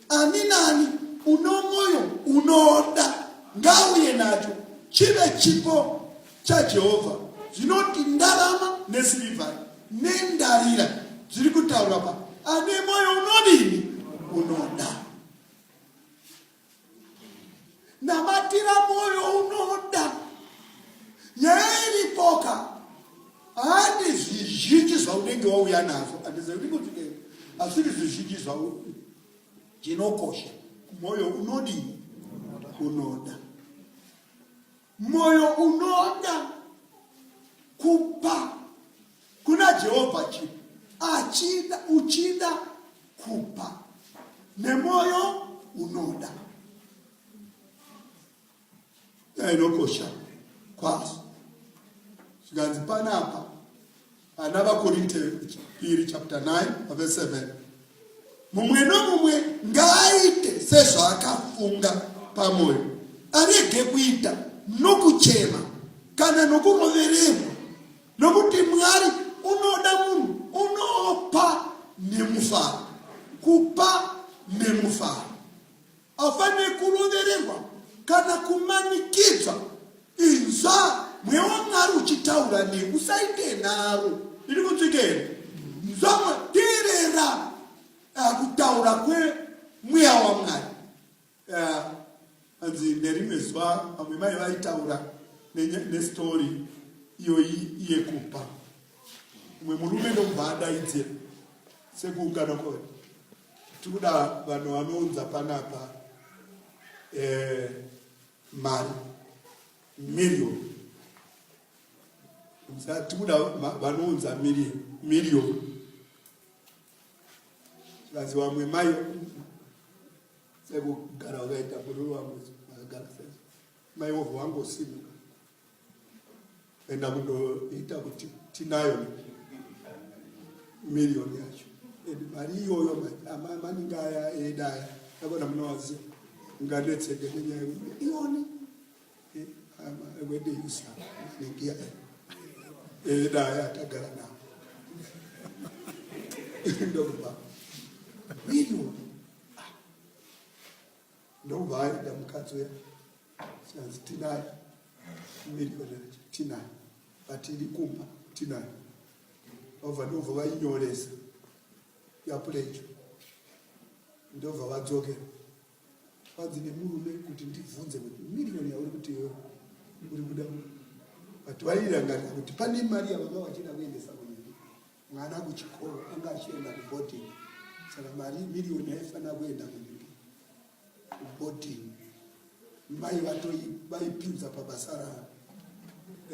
ani nani uno mwoyo unoda ngauye nacho chive chipo chajehovha zvinoti ndarama nesirivhai nendarira zviri kutaura pa ane mwoyo unodini unoda namatira moyo unoda yairipoka handi zvizhinji zvaunenge wauya nazvo andizaiikotidei asiri zvizhinji zvau chinokosha moyo unodii unoda Moyo unoda kupa kuna Jehovha chinhu achida uchida kupa nemoyo unoda inokosha kwazo zvikanzi panapa Ana vaKorinte piri chapter 9 verse 7 mumwe nomumwe ngaaite sezvaakafunga pamwoyo arege kuita nokuchema kana nokurovererwa nokuti mwari unoda munhu unopa nemufaro kupa nemufaro Hapane kurovererwa kana kumanikidzwa. Inzwa mweya waMwari uchitaura newe, usaite nharo. Iri kunzwika here? Nzwa, teerera ah, kutaura kwemweya waMwari. Ah, hanzi nerimwe zuva vamwe mai vaitaura nestori iyoyi yekupa umwe murume ndomubva adaidzira sekuukana kwavo Tikuda vanhu vanounza panapa eh, mari million tikuda vanounza million zvikanzi vamwe mai sekugara wakaita bururu wangu akagara sei mai wovho wangosimuka enda kundoita kuti tinayo miriyoni yacho and mari iyoyo maningi aya eda aya akona munowaziva ngadetseke nenyaya yemiliyoni wedeisa maningi aya eda aya atagara nawo ndokuba miriyoni ah. ndokuba aida mukadzi weya Zvikanzi tinayo miliyoni yacho tinayo but iri kumba tinayo vabva ndobva vainyoresa yapulecho ndobva vadzokera vanzi nemurume kuti ndibvunze kuti miriyoni yauri kuti iwe uri kuda but vairangarira kuti pane mari yavanga vachida kuendesa kunyika mwana kuchikoro anga achienda kuboarding saka mari miriyoni yaifanira kuenda kuboarding mai vaipinza pabasa ravo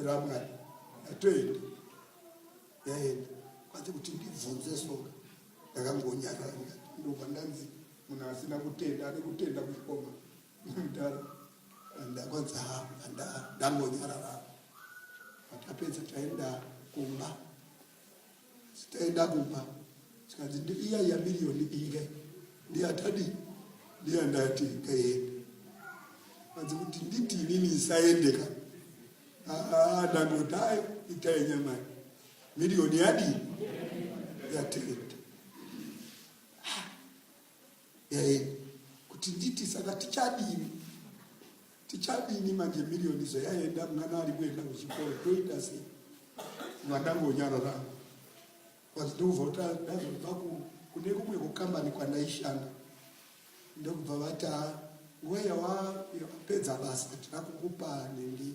ramwari atoenda yaenda kwanzi kuti ndibvunze soka ndakangonyarara ndobva ndanzi munhu asina kutenda ane kutenda kuchikoma Ndakadaro ndangonzi haa ndangonyarara. Patapedza taenda kumba. Taenda kumba zvikanzi ndiiya iya miriyoni inge ndiyatadi ndiya ndati kaende. Kanzi kuti nditi inini isaendeka. Haa ndangodai itai nyamai. Miriyoni yadii? Yatenda. Then kuti nditi saka tichadini tichadini manje million izo yaenda mwana ari kuenda kuchikoro toita sei vandangonyarara bcause ndikubva kuti ndazobva kune kumwe kukambani kwandaishanda ndokubva vati nguva yawapedza basa tira kukupa nenge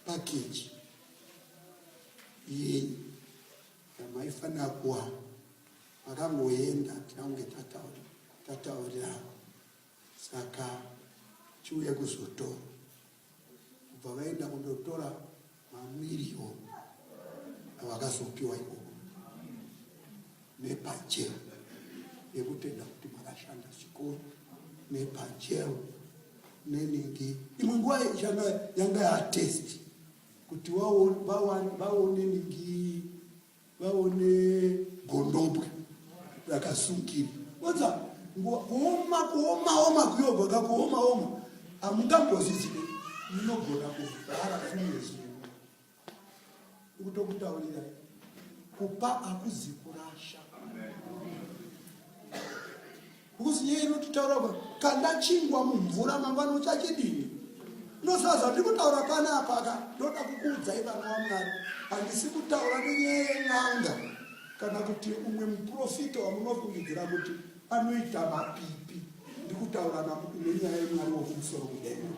pakeji yenyu yamaifanira kuwana Makangoenda tina kunge tataura tataurirana saka chiuye kuzotora kubva vaenda kundotora mamiriyoni avakazopiwa ikoko nepajero yekutenda kuti makashanda zvikuru nepajero nenenge imwe nguva yanga yatesti kuti vaone ningi vaone gondobwe rakasungirwa oza kuoma kuomaoma kuyogona kuomaoma hamungambozizii munogona kuvhara fumezi kutokutaurira kupa akuzi kurasha Mbuzi iye inototaura kuti kanda chingwa mumvura mangwana uchachidini ndosaka zvandiri kutaura pana apaka ndoda kukuudzai vana vamwari handisi kutaura nenyaya yen'anga kana kuti umwe muprofita wamunofungidzira kuti anoita mapipi ndikutaura nenyaya yemwari wokumusoro kudenga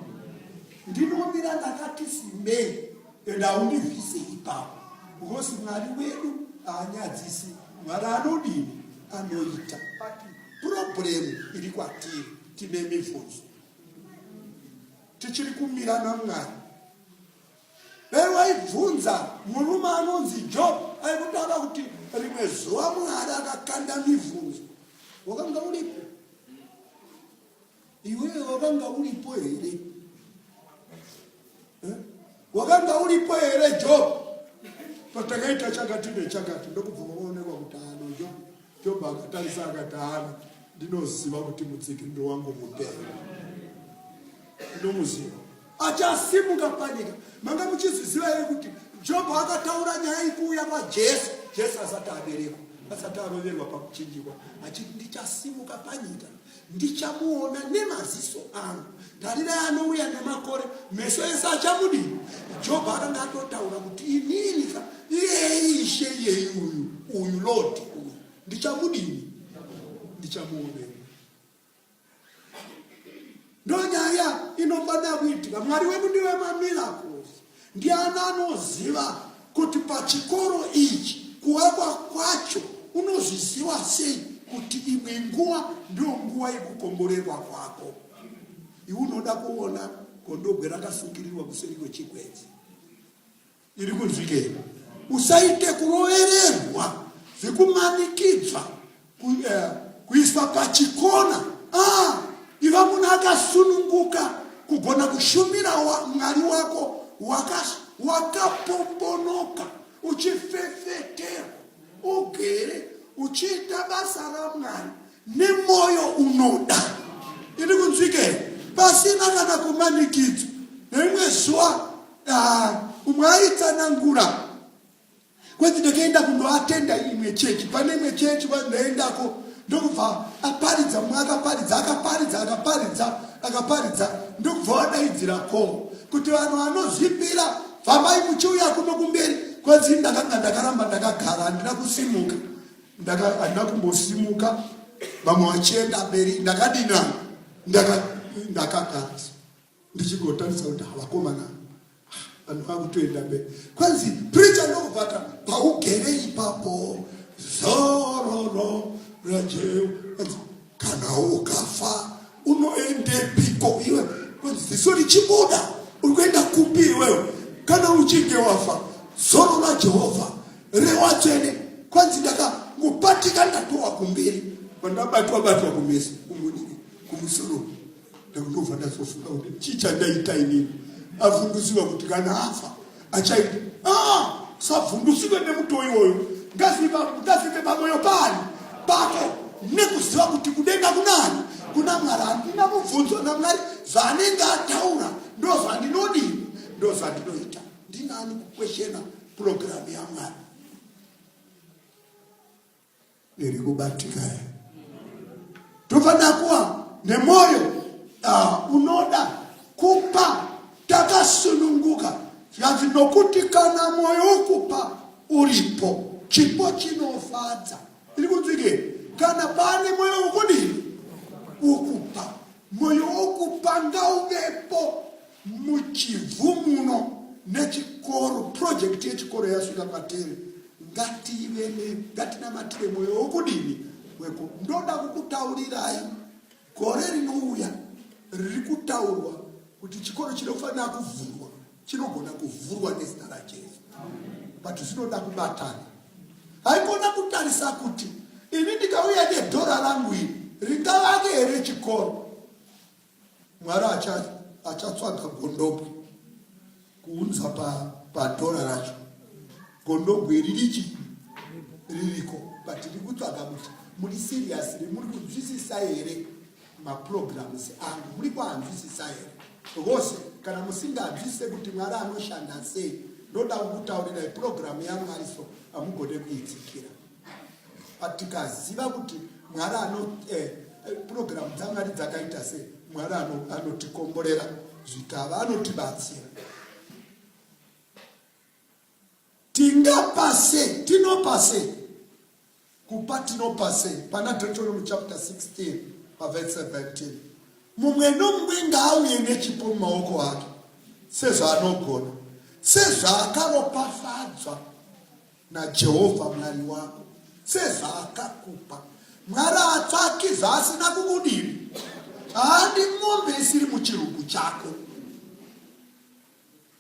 ndinomira ndakati simbei and haundivise ipapo because mwari wedu haanyadzisi mwari anodini anoita problemu iri kwatiri tine mibvunzo tichiri kumira namwari dai waibvunza murume anonzi job aikutaura kuti rimwe zuva mwari akakanda mibvunzo wakanga uripo Iwewe wakanga uripo here? Eh? Wakanga uripo here Job? Patakaita chakati nechakati ndokubva waonekwa kuti ano Job. Job akatarisa akati ano ndinoziva kuti mutsigiriro wangu mupera. Ndinomuziva. achasimuka panyika manga muchizviziva here kuti jobho akataura nyaya ikuuya kwajesu jesu asati aberekwa asati aroverwa pakuchinjikwa achiti ndichasimuka panyika ndichamuona nemaziso angu tarira anouya nemakore meso ese achamudii jobho akanga atotaura kuti ininika iyei ishe iyei uyu uyu lodi uyu ndichamudini ndichamuonei ndonyaya inofanira kuitika mwari wedu ndiwe mamiracles ndiani anoziva kuti pachikoro ichi kuwakwa kwacho unozviziva sei kuti imwe nguva ndiyo nguva yekukomborerwa kwako iwe unoda kuona gondobwe rakasungirirwa kuseri kwechigwenzi iri kunzwikei usaite kurovererwa zvekumanikidzwa eh, kuiswa pachikona ah, iva munhu akasununguka kugona kushumira mwari wako wakapombonoka waka uchifefetera ugere uchiita basa ramwari nemwoyo unoda iri kunzwikei pasina kana kumanikidzwa neimwe zuva Ah, umwe aitsanangura kwenzi ndakaenda kundoatenda imwe chechi pane imwe chechi ndaendako ndokubva aparidza mumwe akaparidza akaparidza akaparidza akaparidza ndokubva wadaidzira ko kuti vanhu vanozvipira fambai muchiuya kuno kumberi kwenzi ndakanga ndakaramba ndakagara handina kusimuka handina kumbosimuka vamwe vachienda mberi ndakadina ndakagara ndichigotarisa kuti havakomana vanhu vakutoenda mberi kwanzi pricha ndokubvata paugere ipapo zororo rajeu kwanzi kana ukafa unoendepiko iwe kwanzi ziso richibuda uri kuenda kupi iwewe kana uchinge wafa zoro rajehovha rewatsvene kwanzi ndakangopatika ndatowa kumberi vandabatwa batwa kumesi kumunini kumusoro ndakutobva ndazofunga kuti chii chandaita inini avhundusiwa kuti kana afa achaita ah, savhundusiwe nemuto iwoyo ndazivangudazike pamoyo pani pako nekuziva kuti kudenga kunani kuna mwari handina mubvunzo namwari zvaanenge ataura ndozvandinodini ndozvandinoita ndinani kukweshena purogiramu yamwari ndirikubatikaya tukadakuwa nemoyo uh, unoda kupa takasununguka zvikanzi nokuti kana mwoyo wokupa uripo chipo chinofadza iri kunzwike kana pane mwoyo wokudii wokupa mwoyo wokupa ngauvepo Muchivhu muno nechikoro project yechikoro yasvika kwatiri ngative ngatinamatire mwoyo wokudini weko ndoda kukutaurirai gore rinouya riri kutaurwa kuti chikoro chinofanira kuvhurwa chinogona kuvhurwa nezita rajesu but zvinoda kubatana haikona kutarisa kuti ini ndikauya nedhora rangu iri ringavake here chikoro Mwari achatsvaga gondobwe kuunza padhora racho. Gondobwe ririchi ririko but tiri kutsvaga kuti muri serious re muri kunzwisisa here maprograms angu muri kuanzwisisa here vose kana musinganzwisise kuti mwari anoshanda sei ndoda kukutaurirai programu yamwari so hamugone kuitsikira but tikaziva kuti mwari ano eh, purogiramu dzamwari dzakaita se mwari anotikomborera zvikava anotibatsira tingapase tinopase kupa tinopase pana deuteronomy chapter 16 pavese 17 mumwe nomumwe ngaauye nechipo mumaoko ake sezvaanogona sezvaakaropafadzwa naJehovha Mwari wako sezvaakakupa. Mwari haatsvaki zvaasina kukudira. Haadi mombe isiri muchirugu chako.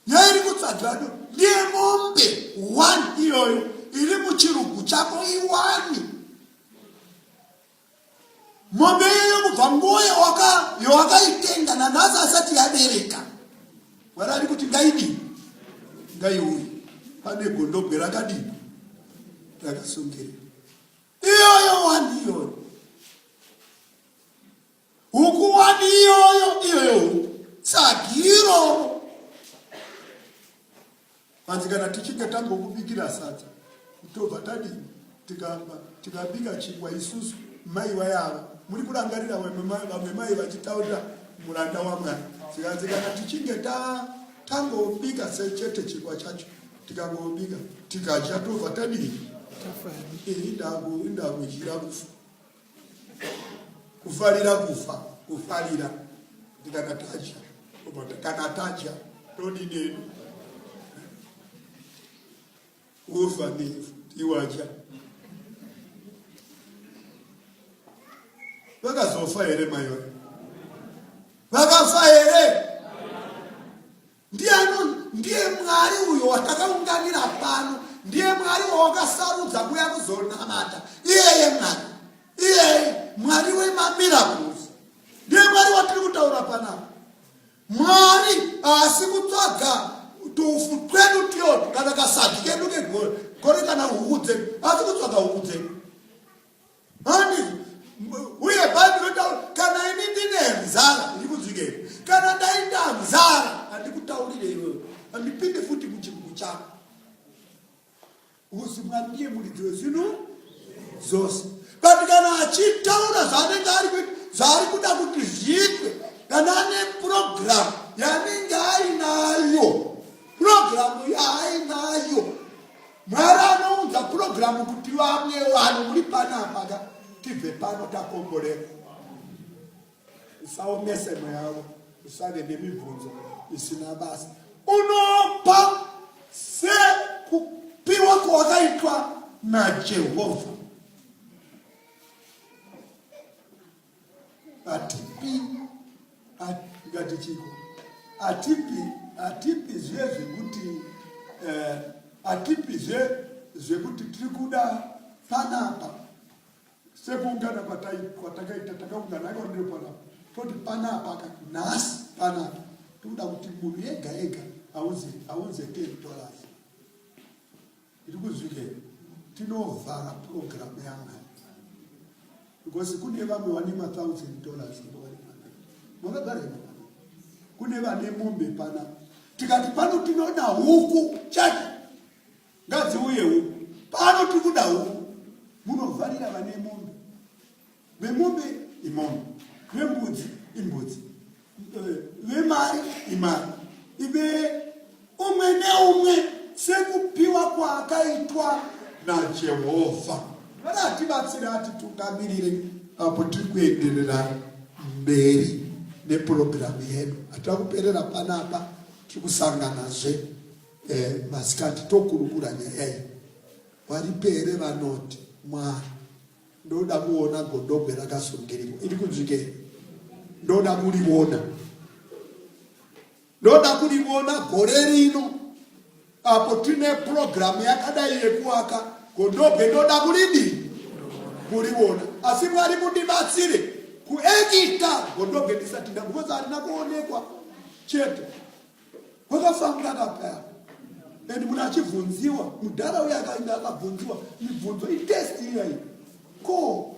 Yairi kutsvagado ndiye mombe one iyoyo iri muchirugu chako iwani. Mombe iyoyo kubva nguva yawakaitenga nanhasi asati yabereka. Mwari ari kuti ngaidii? Ngaiuye. Pane gondobwe rakadii? Rakasungirirwa. Iyoyo wani iyoyo. Huku wani iyoyo iyoyo huku. Sagiro. Hanzi kana tichinge tambokubikira sadza tobva tadii tikamba tikabika chingwa isusu mai vayava muri kurangarira vamwe mai vachitaurira muranda wamwari zikanzi kana tichinge tangobika sechete chingwa chacho tikangobika tikadya tobva tadii indakudyira kufa kufarira kufa kufarira ndikanataja kanataja todideni kufa ndifu tiwaja vakazofa here maiva vakafa here Ndiani? Ndiye Mwari uyo watakaunganira pano, ndiye Mwari wawakasarudza kuya kuzonamata. Iyeye Mwari, iyeye Mwari wemamiracles, ndiye Mwari watiri kutaura panapa. Mwari haasi kutsvaga tufu twedu tyoto kana kasadyi kedu kegore kana huku dzedu, haasi kutsvaga huku dzedu. Mami, uye Bhaibheri rinotaura kana ini ndine nzara ndikunzwikei, kana ndaita nzara handikutaurire iwewe, handipinde futi muchibuku chako. Uzi Mwari ndiye muridzi wezvinhu zvose, but kana achitaura zvaanenge ari zvaari kuda kuti zviitwe, kana ane purogiramu yanenge ainayo, purogiramu yaainayo Mwari anounza purogiramu kuti vamwe vanhu muri panapa ka tibve pano takomborera. Usaomese mweya wako, usave nemibvunzo isina basa. Unopa sekupiwa kwawakaitwa naJehovha. hatipi ngati chiko hatipi hatipi zve zvekuti eh, hatipi zve zvekuti tiri kuda panapa sekuungana kwatakaita takaungana akaonero panapa toti panapa ka nhasi panapa tikuda kuti munhu ega ega aunze aunze territoras Ndiri kuzvike tinovhara program yanga because kune vamwe vane mathousand dollars makagara kune vane mombe pana tikati pano tinoda huku chete ngadziuye huku pano tikuda huku munovharira vane mombe Vemombe imombe, vembudzi imbudzi, eh, vemari imari, ibere umwe neumwe sekupiwa kwaakaitwa naJehovha. Ngatibatsire atitungamirire apo tiri kuenderera mberi nepurogiramu yedu. Hatira kuperera panapa, tiri kusanganazve eh, masikati tokurukura nyaya iyi. Varipere vanoti Mwari Ndoda kuona godobwe rakasungirirwa iri kunzvikei? Ndoda kurivona, ndoda kurivona gore rino apo tine purogiramu yakadai yekuwaka godobwe, ndoda kuridii? Kurivona. Asi Mwari mundibatsire kuekita godobwe ndisati nda, because harina kuonekwa chete. Kwakafambira akapaya and munhu achibvunziwa mudhara uye akainda akabvunziwa mibvunzo itest iyayi ko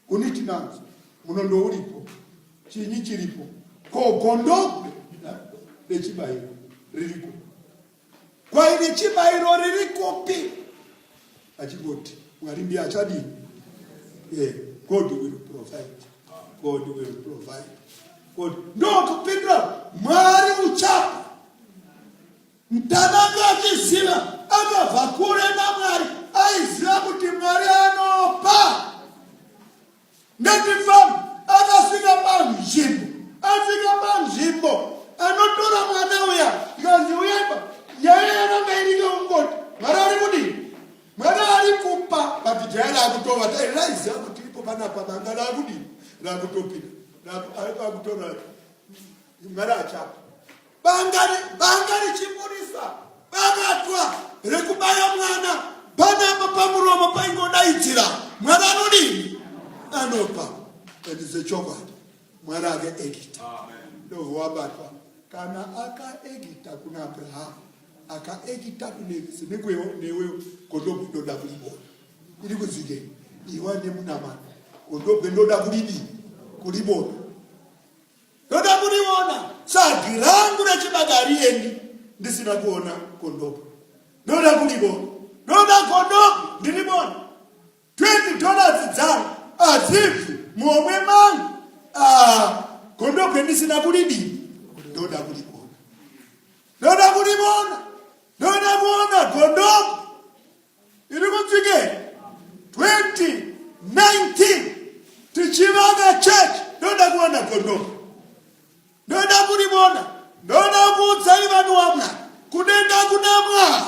uniti nanzo munondo uripo chinyi chiripo ko gondokwe rechibayiro ririko kwaine chibairo riri kupi achingoti mwari ndiye achadii eh, god will provide god will provide god ndokupindura mwari uchapa mtanange achiziva akabva kure namwari aiziva kuti mwari anopa Ngatifambe akasvika panzvimbo, asvika panzvimbo anotora mwana uya ikanzi uyaipa nyaya yananga irike ungoti mwana ari kudii mwana ari kupa but jaya rakutova dai raiziva kuti ipo panapa manga rakudii rakutopinda akutora mwana achapa banga richibudisa bakatwa rekubaya mwana panapa pamuromo paingodaidzira mwana anodini anopa endize chokwadi mwana ake egita ndovowabatwa kana akaegita kuna abrahamu akaegita kunevisi nekwewo newe gondobwe ndoda kulibona iri kuzike iwa nemunamana gondobwe ndoda kulidii kulibona Ndoda kuriona tsvagi rangu rechibaka hariendi ndisina kuona kondomu. Ndoda kuribona. Ndoda kondomu ndiribona. 20 dollars dzangu hadzibvi muhomwe mangu. Ah, kondomu endisina kuridini. Ndoda kuribona. Ndoda kuribona. Ndoda kuona kondomu. iri kutsvike 2019 tichivaka church ndoda kuwana gondomu ndoda kuribona ndoda kuudzai vanhu wamwa kudenga kuna mwari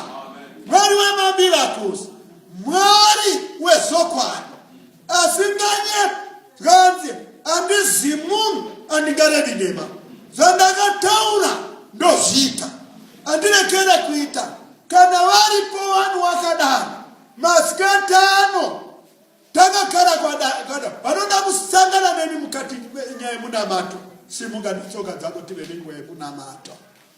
mwari wemamiracles mwari wezokwadi asi nganye zvanzi andizi munhu andingarevi nhema zvandakataura ndozviita andirekere kuita kana varipo vanhu wakadaro masikati ano takagara kwadakada vanoda kusangana neni mukati nyaya yemunamato simuka netsoka dzako tive nenguva yekunamata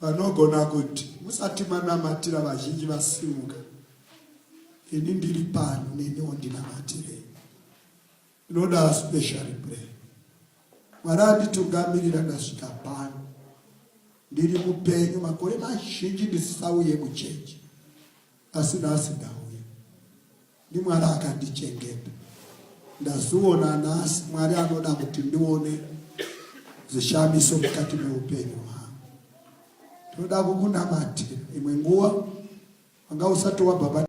Vanogona kuti, Musati manamatira vazhinji vasimuka, ini ndiri pano, neniwo ndinamatirei. Ndinoda special prayer. Mwari anditungamirira ndasvika pano. Ndiri mupenyu makore mazhinji ndisisauye muchechi. Asi nhasi ndauya. NdiMwari akandichengeta. Ndazviona nhasi, Mwari anoda kuti ndione zvishamiso mukati meupenyu hwangu. Tinoda kukunamatira. Imwe nguva wanga usati wabhabhatidzwa.